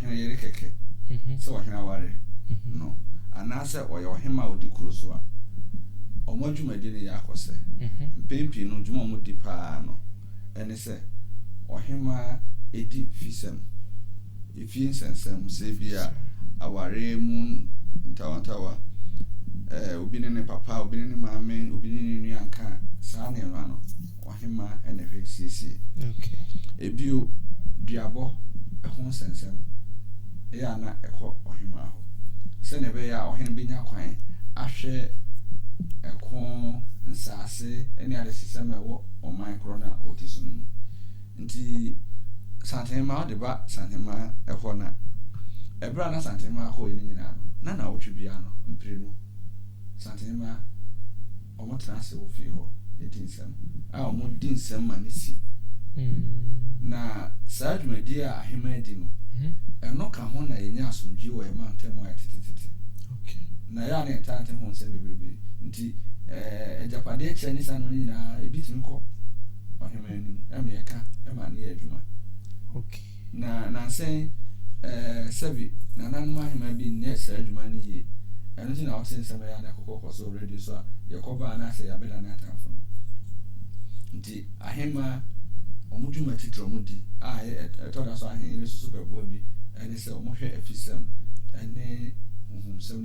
C: ɔhene yere kɛkɛ sɛ ɔhene aware no anaasɛ ɔyɛ ɔhemmaa a ɔdi kuro so a, wɔn adwumadi no yɛ akɔsɛ. Mpɛn pii no, dwuma a wɔdi pa ara no ne sɛ ɔhemmaa di fisɛm, efie nsɛnsɛm, sɛ ebia aware mu ntawantawa, obi ne ne papa, obi ne ne maame, obi ne ne nua nka saa nneɛma no. ɔhemmaa na ɛhwɛ siesie.
A: Bio,
C: duabɔ ho nsɛnsɛm yɛ a na ɛkɔ ɔhemmaa hɔ sɛnea ɛbɛyɛ a ɔhene bɛnya kwan ahwɛ ɛko, nsaase ne adesesɛm a ɛwɔ ɔman korɔ no a ɔte so no mu. Nti Santenema ɔde ba Santenema hɔ na ɛberɛ a na Santenema akɔ yɛ no nyinaa no, na na ɔtwe biara no mprenu Santenema Wɔtena ase wɔ fie hɔ di nsɛm a wɔdi nsɛm ma no si. Na saa dwumadi a ahemman di no, ɛno ka ho na yɛnya asomdwoe wɔ yɛn mantam mu ayɛ tetetete. Na
A: ɛyɛ a na yɛntaa
C: nte ho nsɛm bebrebe nti, agyapadeɛ kyɛ ne saa nneɛma no nyinaa, ebi tumi kɔ ɔhemman anim ma yɛka ma no yɛ adwuma.
A: Na nnansa
C: yi, ɛɛ, sɛbe nananom ahemmaa bi nyɛɛ saa adwuma no yie. Ɛno nti na wote nsɛm a ɛyɛ a na ɛkɔkɔ kɔ so wɔ radio so a, yɛkɔba a anaasɛ yɛabɛda ne atamfo no. Nti ahemmaa, wɔn dwuma titire a wɔdi a ɛtɔ da so a ahenni no so so bɛboa bi ne sɛ wɔhwɛ afisɛm ne honhomsɛm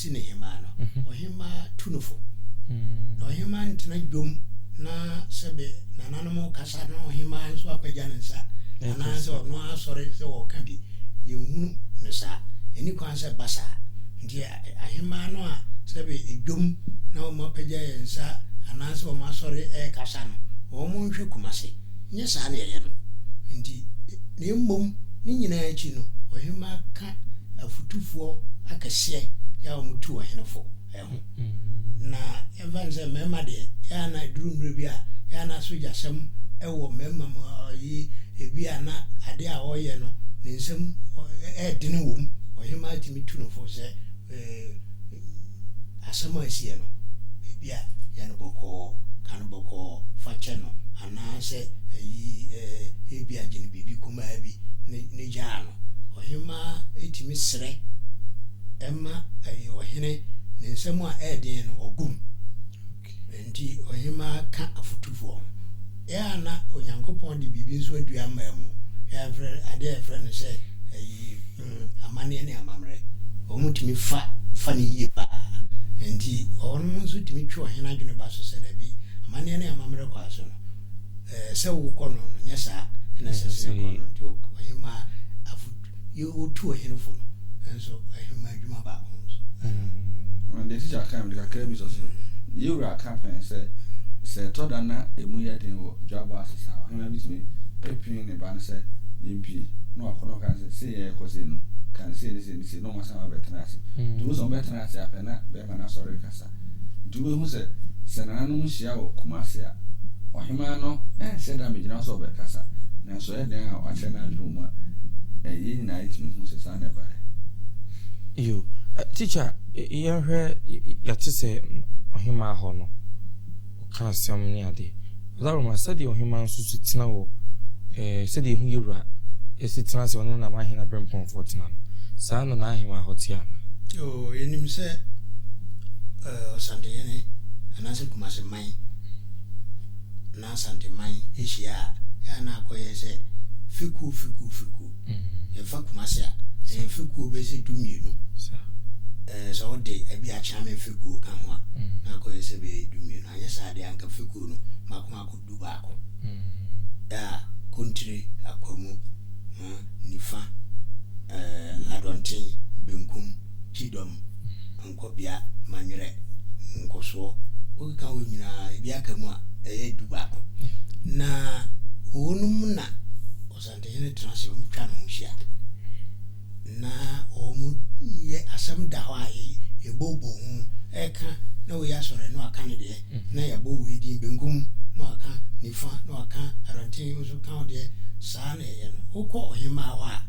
B: ti ne hemmaa no, ɔhemmaa tu no fo, na ɔhemmaa ntena dwom na sɛbe nananom rekasa na ɔhemmaa nso apagya ne nsa anaasɛ ɔno ara asɔre sɛ ɔreka bi. Yɛnhunu no saa. Ɛnni kwan sɛ ɛba saa. Nti ahemmaa no a sɛbe dwom na wɔapagya yɛn nsa anaasɛ wɔasɔre rekasa no, wɔnhwɛ Kumasi. nyɛ saa na yɛyɛ no nti, na mmom ne nyinaa akyi no, ɔhemmaa ka afotufoɔ akɛseɛ yɛ a wɔtu ɔhene fo ho. Na yɛmfa no sɛ mmarima deɛ, yɛ a na ɛduru mmerɛ bi a, yɛ a na sogyasɛm wɔ mmarima mu, ɔyi ebi a na adeɛ a ɔreyɛ no ne nsam ɛredene wɔ mu, ɔhemmaa tumi tu no fo sɛ, Eh, asɛm a ɛsiiɛ no, ebia yɛ no bɔkɔɔ, ka no bɔkɔɔ, fa kyɛ no, anaasɛ yi eh, ebia gye no biribi kumaa bi ne, ne gyaa no. Ɔhemmaa tumi srɛ ma eh, ɔhene ne nsɛm a ɛyɛ den no, ɔbom. Enti ɔhemmaa ka afotufoɔ ho. Yɛ a na Onyankopɔn de biribi nso adua mmaa mu, yɛfrɛ, adeɛ a yɛfrɛ no sɛ ayi, mm, amanneɛ ne amammerɛ. Wɔn tumi fa, fa no yie paa. Enti wɔnom nso tumi twe ɔhene adwene ba so sɛ dabi, amanneɛ ne amammerɛ kwan so no, ɛɛ, sɛ wokɔ no no, nyɛ saa, ɛna sɛ sɛ kɔ no. Nti ɔhemmaa afotu. Yɛ wotu ɔhene fo no nso ahema adwuma baako ho nso. Deɛ
C: mm. tikya kan mede kakra bi sɔ so. Yɛ wura ka pɛn sɛ sɛ ɛtɔ da na emu yɛ den wɔ dwabɔ ase saa ɔhema bi tumi apin ne ba no sɛ yɛmpie na wakɔ no kan sɛ sei yɛ ɛkɔ sei no kan sei ne sei ne sei na ɔma san wabɛtena ase. Tumi sɛ ɔbɛtena ase apɛ na bɛrima no asɔre kasa. Nti wobɛhu sɛ, sɛ nananom hyia wɔ Kumasi a, ɔhemaa no nhyɛ da mmegyina so a ɔbɛkasa, nanso ɛyɛ dɛn a wakyerɛ n'adwene wɔ mu a, ɛ, yɛn nyinaa yɛtumi hu sɛ saa na ɛbaeɛ.
A: Yo, ɛ, tikya, yɛnhwɛ, yɛte sɛ ɔhemaa hɔ no. ɔka asɛm ne ade. Ɔdaworo ma sɛdeɛ ɔhemaa nso si tena wɔ ɛɛ sɛdeɛ ehu yɛ wura si tena sɛ ɔne n'abahen aberempɔnfoɔ tena no, saa ara na n'ahemaa hɔ te anaa? Oo, yɛnim
B: sɛ ɛɛ Ɔsantehene anaasɛ Kumase man anaa Asante man hyia a, ɛyɛ a na akɔyɛ sɛ fekuo fekuo fekuo. Yɛmfa Kumasi a, ɛyɛ mfekuo bɛyɛ sɛ du-mmienu. Sɛ wode ɛbi Akyeame mfekuo ka ho a, na akɔyɛ sɛ bɛyɛ du-mmienu. Anyɛ saa deɛ, anka mfekuo no mmaako mmaako du-baako. A, Kontire, Akwamu, ha, nifa, eh, Adɔnten, benkum, Kyidɔm, Nkɔbea, Manyerɛ, Nkɔsoɔ. Wokeka wei nyinaa, ɛbi aka mu a, ɛyɛ du-baako. Na wɔnom na. Ɔsɔrentini no tena ase, wɔtwa ne ho hyia, na wɔyɛ asɛm da hɔ a yɛbobɔ ho ɛka na wei asɔre na waka ne deɛ mm-hmm. na yɛbɔ wei din benkum na waka nifa na waka adɔnten nso ka wo deɛ saa na yɛyɛ no wokɔ ɔhemaa hɔ a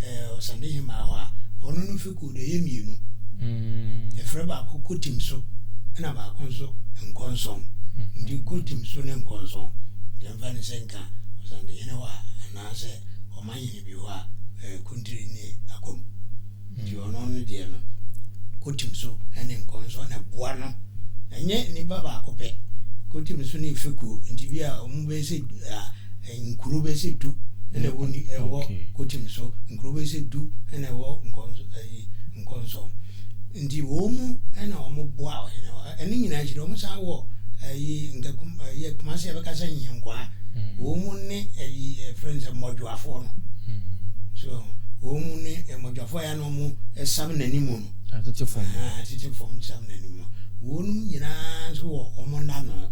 B: eh, ɔsande hemaa hɔ a ɔno no fekuo deɛ ɛyɛ mmienu mm. yɛfrɛ baako kɔtim so ɛna baako nso nkɔnsɔn mm-hmm. nti kɔtim so ne nkɔnsɔn yɛmfa ne sɛ nka ɔsantehene hɔ a, anaasɛ ɔmanhene bi hɔ a, ɛyɛ kuntiri ne akwamu. Nti mm. ɔno no deɛ no, kotim so ne nkɔnsɔ na ɛboa no. Ɛnyɛ nnipa baako pɛ. Kotim so ne fekuo. Nti bi a wɔn bɛyɛ sɛ nkuro bɛyɛ sɛ du na ɛwɔ ni ɛwɔ kotim so. Nkuro bɛyɛ sɛ du na ɛwɔ nkɔnsɔ. Nti wɔn na wɔboaa ɔhene hɔ. Ɛno nyinaa akyi de, wɔsan wɔ ɛyi nka kum ɛyɛ kumase a bɛka sɛ nyenkwaa. Wɔn ne ɛyi ɛfrɛ no sɛ mmɔdwoafoɔ no. So wɔn ne mmɔdwoafoɔ yɛ na wɔn ɛsam n'anim no. Atete fam. Atete
A: fam
B: nsam n'anim no. Wɔn nyinaa nso wɔ wɔn nano.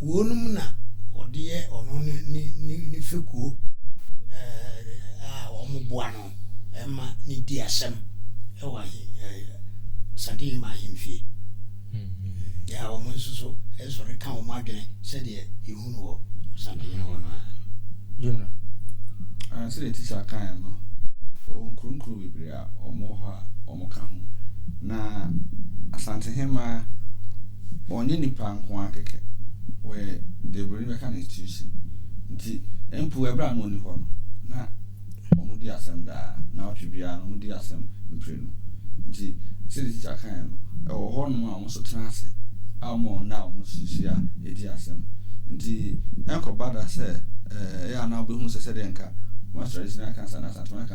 B: Wɔnom na wɔde yɛ ɔno ne ne ne fekuo a wɔboa no ma no di asɛm wɔ ahe Santehima ahemfie. Yɛ a wɔn nso so sɔre ka wɔn adwene sɛdeɛ yɛhu no wɔ Santehene hɔ no ara.
A: General.
C: Sɛdeɛ teacher kaeɛ no, ɔwɔ nkuronkuro bebree. a wɔwɔ hɔ a wɔka ho. Na Asante Hemaa, wɔnyɛ nnipa nko ara kɛkɛ, wɔyɛ deɛ Buroni bɛka no institution. Nti mpo ɛberɛ a na ɔnni hɔ no, na wɔdi asɛm daa, nnawɔtwe biara no wɔdi asɛm mprenu. Nti sɛdeɛ tikya kaeɛ no, ɛwɔ hɔnom a wɔn nso tena ase a wɔma wɔn nna a wɔhyia di asɛm. Nti ɛnkɔba da sɛ ɛyɛ a na wobɛhunu sɛ sɛdeɛ anka Kumasi Traditional Council anaa Asantehene Council,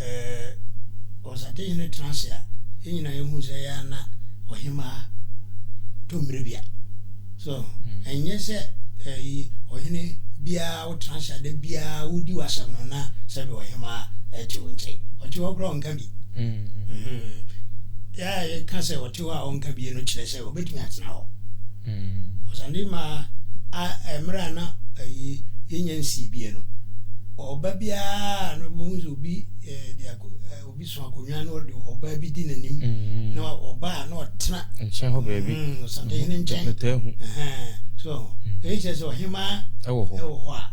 B: Eh, Ɔsate hene tena ase a, yɛn nyinaa yɛhu sɛ ɛyɛ a na ɔhemaa to mmere bia. So, ɛnyɛ sɛ ɛyi ɔhene biara wotena ase a da biara wodi w'asɛm no na sɛbe ɔhemaa ɛte wo nkyɛn. Ɔte hɔ koraa ɔnka bi. Yɛ a yɛka sɛ ɔte hɔ a ɔnka bi no kyerɛ sɛ ɔbɛtumi atena hɔ. Ɔsande maa a mmerɛ a na ayi yɛnya nsii biɛ no ɔba biara no bɛhu sɛ obi de obi so akonnwa na ɔde ɔbaa bi di n'anim na ɔbaa na ɔtena nkyɛn hɔ baabi
A: ɔsande hene nkyɛn
B: so ɛyɛ kyerɛ sɛ ɔhemaa ɛwɔ
A: hɔ a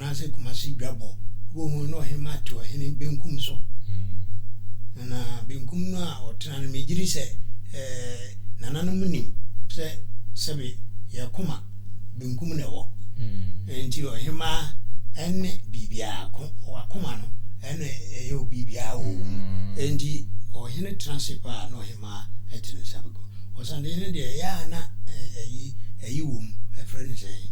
B: anaasɛ Kumasi Dwabɔ, wobɛhu no na ɔhemaa te ɔhene benkum so, na benkum no a ɔtena no megyedi sɛ nananom nim sɛ sɛbe yɛn koma benkum na ɛwɔ, enti ɔhemaa ɛne biribiara ko, wakoma no ɛna ɛyɛ obibiara wɔ wɔ mu, enti ɔhene tena ase paa na ɔhemaa ɛte ne nsa bɛgu, ɔsantehene deɛ ɛyɛ a na ɛyi ɛyi wɔ mu, ɛfrɛ no sɛn?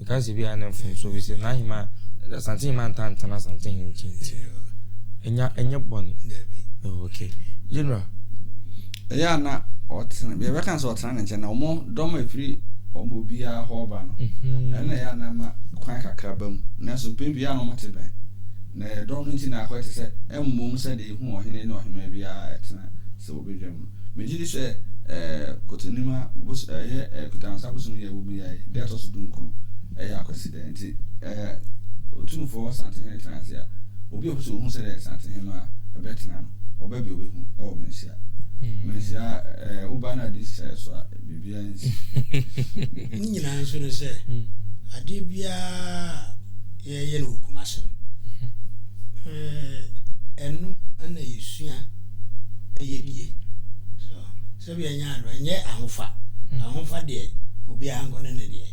A: Nkansi biara ne mfomso efisɛ n'ahemman a Asante hemman ntaa ntena Asante hene nkyɛn nti ɛnya ɛnyɛ bɔne. Oh, okay. General. Ɛyɛ
C: a na ɔtena yɛbɛka sɛ ɔtena ne nkyɛn na wɔn dɔm a ɛfiri wɔn obiara hɔ ba no mhm. ɛna ɛyɛ a na ma kwan kakra ba mu nanso pɛ biara na wɔte bɛn na ɛdɔm no nti na akɔyɛ te sɛ ɛmmom sɛ deɛ ɛhu ɔhene ne ɔhema biara ɛtena sɛ wɔbɛdwa mu. Megye di sɛ Kɔtɔnima bos ɛyɛ Kɔtɔansa bosom yɛ wɔ mu yɛ da ɛtɔ so dunkron, ɛyɛ Akwasida. Nti Otumfoɔ Asantehene tena ase a, obi a ɔpɛ sɛ ɔhu sɛdeɛ Asantehemmaa bɛtena no, ɔba bi a ɔbɛhu wɔ Mensia. Mensia woba na adi sɛeɛ so a, biribiara nsi. Ne
B: nyinaa nso ne sɛ, adeɛ biara a. yɛyɛ no wɔ kumase no ɛno ɛna yɛsua ɛyɛ die so sɛbi ɛnyɛ ado ɛnyɛ ahofa mm. ahofa deɛ obiara nkɔ ne ne deɛ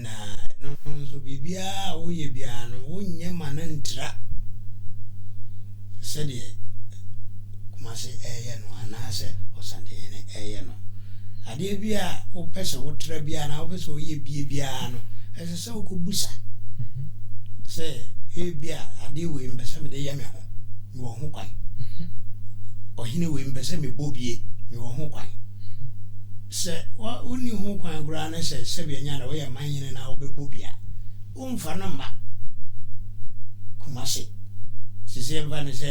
A: na
B: ɛno nso biribiara a woyɛ biara no wonyɛ ma no ntra sɛdeɛ kumase ɛyɛ no anaasɛ ɔsantehene ɛyɛ no adeɛ bi a wopɛ sɛ wotra biara na wopɛ sɛ woyɛ bie biara no ɛsɛ sɛ wokɔbisa sɛ ebia adeɛ wei mpɛ sɛ mede yɛ me ho mewɔ ho kwan ɔhene wei mpɛ sɛ mebɔ bie mewɔ ho kwan sɛ wonni ho kwan koraa ne sɛ sɛbi anya na woyɛ man hene na wobɛbɔ bi a womfa no mma kuma se sisi mfa ne sɛ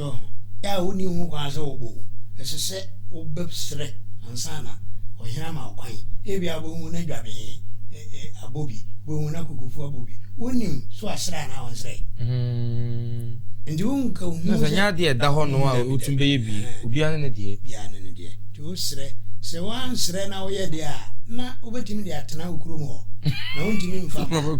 B: no a wonni ho kwan sɛ wɔbɔ wo, ɛsɛ sɛ wobɛsrɛ ansa na ɔhene ama wo kwan. Ebia wobɛhu na dwabee abɔ bi, wobɛhu na kukufu abɔ bi. Wonnim so wasrɛ anaa wansrɛ. Nti wonka hu sɛ. Na sɛ ɛnyɛ adeɛ a ɛda hɔ
A: no a wotumi bɛyɛ bi, obiara ne ne deɛ. Obiara ne ne deɛ. Nti
B: wosrɛ. Sɛ woansrɛ na woyɛ deɛ a, na wobɛtumi de atena wo kurom hɔ, na wontumi mfa mma.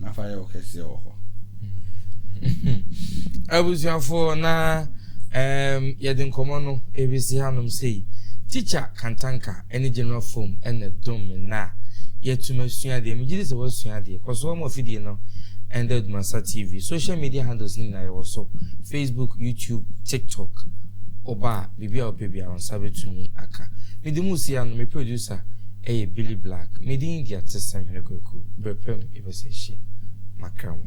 C: na fa yɛ wo kɛseɛ wɔ hɔ
A: abusuafoɔ na um, yɛde nkɔmmɔ no ɛbɛsi hanom sei tikya kantanka ne general fom ɛna dom me na yɛatum asua adeɛ megye di sɛ woasua adeɛ kɔ so ɔma afidie no ɛnda adumasa tv social media handles no nyinaa yɛwɔ so facebook youtube tiktok ɔbaa Biribi a wopɛ biara, wo nsa betumi aka. Me de mu seya no, me producer yɛ Billy Black. Me din de Atesɛm Hene Kwaku. Bere pa mu yɛbɛsan ahyia. Makra mo.